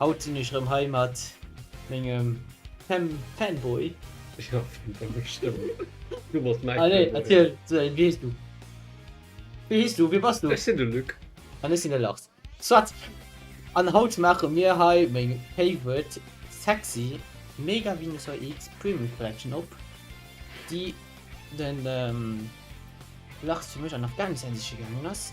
Haut sinn ech rem hei mat mengem Fem Fanboy. Jo Femboy hues stëmmt. Du bass mäi Fanboy. Ah nee erziel wéi hees du? Wéi hees du? Wee bass du? Ech sinn de Luc. An ech sinn de Lars. Soit! An haut maache mir hei meng favorite sexy Mega Venusaur X Premium Collection op, déi den Lars fir mech an Afghanistan siche gaangen ass.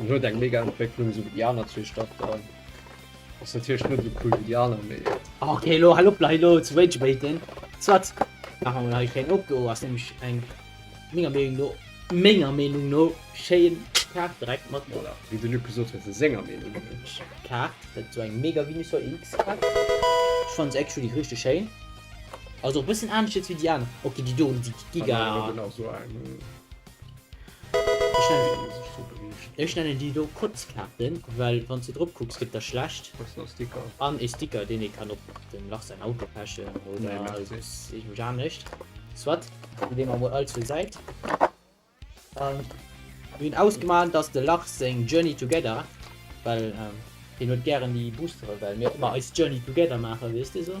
En huet eng mega Entwécklung esou wéi déi aner zwee Staffeln. Ass natierlech net esou cool wéi déi aner, mee. Ok elo hal op lei elo ze rage baiten. Soit maache mer hei e kléngen Op. Do ass nämlech eng menger Meenung no, menger Meenung no, schéin Kaart direkt mat. Voilà, wéi de Luc gesot huet, senger Meenung no. Kaart, dat esou eng mega Venusaur EX Kaart. Ech fannen se actually richteg schéin. Ass och e bëssen anescht jetzt wéi déi aner. Ok déi do déi giga. An der aner huet en och esou eng. Ech nennen déi do Kotzkaarten, well wann s du drop kucks gëtt der schlecht. An ee Sticker, deen ee kann op dem Lach säin Auto pechen oder iergendwéi anescht. Soit, déi leeë mer emol all zur Säit. Mir hunn ausgemaach, datt de Lach seng Journey Together, well hien huet gären déi Boostere, well mir ëmmer eis Journey Together maachen, weess de esou.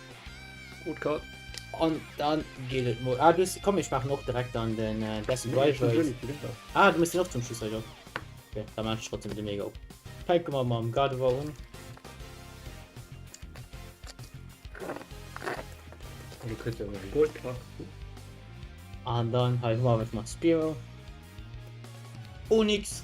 Gut Code. An dann geet et mol. Ah, du hast, komm, ich mach noch direkt an den äh, Death and Rivals. Ah, du musst den auch zum Schluss, Alter. Okay, dann mach ich trotzdem den Mega. Fänken wir mal am Gardevoir um. Du kriegst ja irgendwie Gold Pack. Und dann halt mal mit Spiro. Onyx.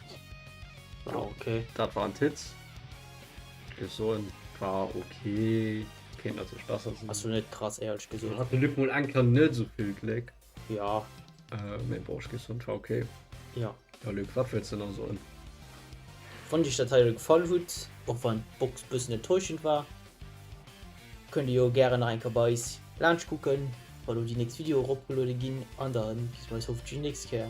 Ah, okay. Dat war en Titz. Ech soen war okay. Kéint natierlech besser sinn. Ass jo net krass, éierlech Lo gesot. hat de Luc mol eng Kéier net esou vill Gléck. Ja, Äh, mee bon, ech géif soen, et war okay. ja. Jo, Luc, wat wëlls de nach soen? Wann Iech dat hei elo gefall hutt, och wann d'Box bëssen enttäuschend war, kënnt Dir jo gären nach eng Kéier bei eis laanscht kucken, wa lo déi nächst Video eropgeluede ginn, an dann bis bei eis hoffentlech déi nächst Kéier.